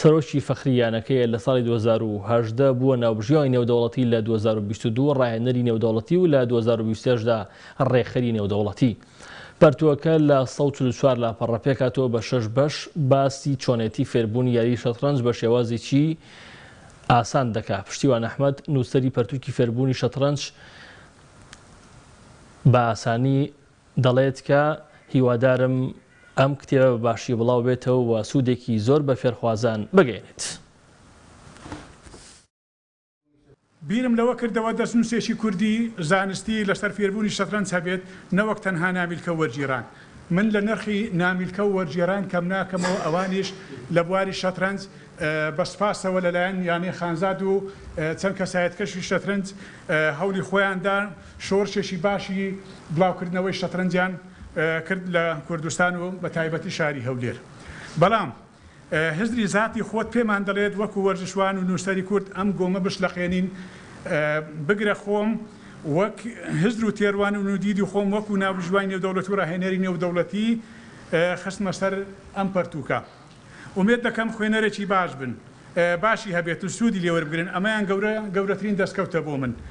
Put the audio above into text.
سەرۆکی فەخری یانەکەیە لە ساڵی دوو هەزار و هەژدە بووە ناوبژیوانی نێودەوڵەتی لە دوو هەزار و بیست و دوو ڕاهێنەری نێودەوڵەتی و لە دوو هەزار و بیست و شەش دا ڕێکخەری نێودەوڵەتی پەرتووەکە لە سەد و چل و چوار لاپەڕە پێکهاتووە بە شەش بەش باسی چۆنێتی فێربوونی یاری شەتڕەنج بە شێوازێکی ئاسان دەکا پشتیوان ئەحمەد نووسەری پەرتووکی فێربوونی شەتڕەنج بە ئاسانی دەڵێت کە هیوادارم ئەم کتێبە بە باشی بڵاو بێتەوە و سوودێکی زۆر بە فێرخوازان بگەیەنێت. بیرم لەوە کردەوە دەستنووسێکی کوردی زانستی لەسەر فێربوونی شەترەنج هەبێت نەوەک تەنها نامیلکە و وەرگیڕان. من لە نرخی نامیلکە و وەرگێران کەم ناکەمەوە ئەوانیش لە بواری شەترەنج بە سپاسەوە لەلایەن یانەی خانزاد و چەند کەسایەتکەشی شەترەنج هەولی خۆیان دا شۆرشێکی باشی بڵاوکردنەوەی شەترەنجیان کرد لە کوردستان و بە تایبەتی شاری هەولێر. بەڵام هزری زاتی خۆت پێمان دەڵێت وەکو وەرزشوان و نووسەری کورد ئەم گۆمە بشلەقێنین، بگرە خۆم وەک هزر و تێروانن و دیدی خۆم وەکو ناوبژیوانی نێودەوڵەتی و راهێنەری نێودەوڵەتی خستمە سەر ئەم پەرتووکە. ئومێد دەکەم خوێنەرێکی باش بن، باشی هەبێت و سوودی لێوەربگرن، ئەمەیان گەورە گەورەترین دەستکەوتە بۆ من.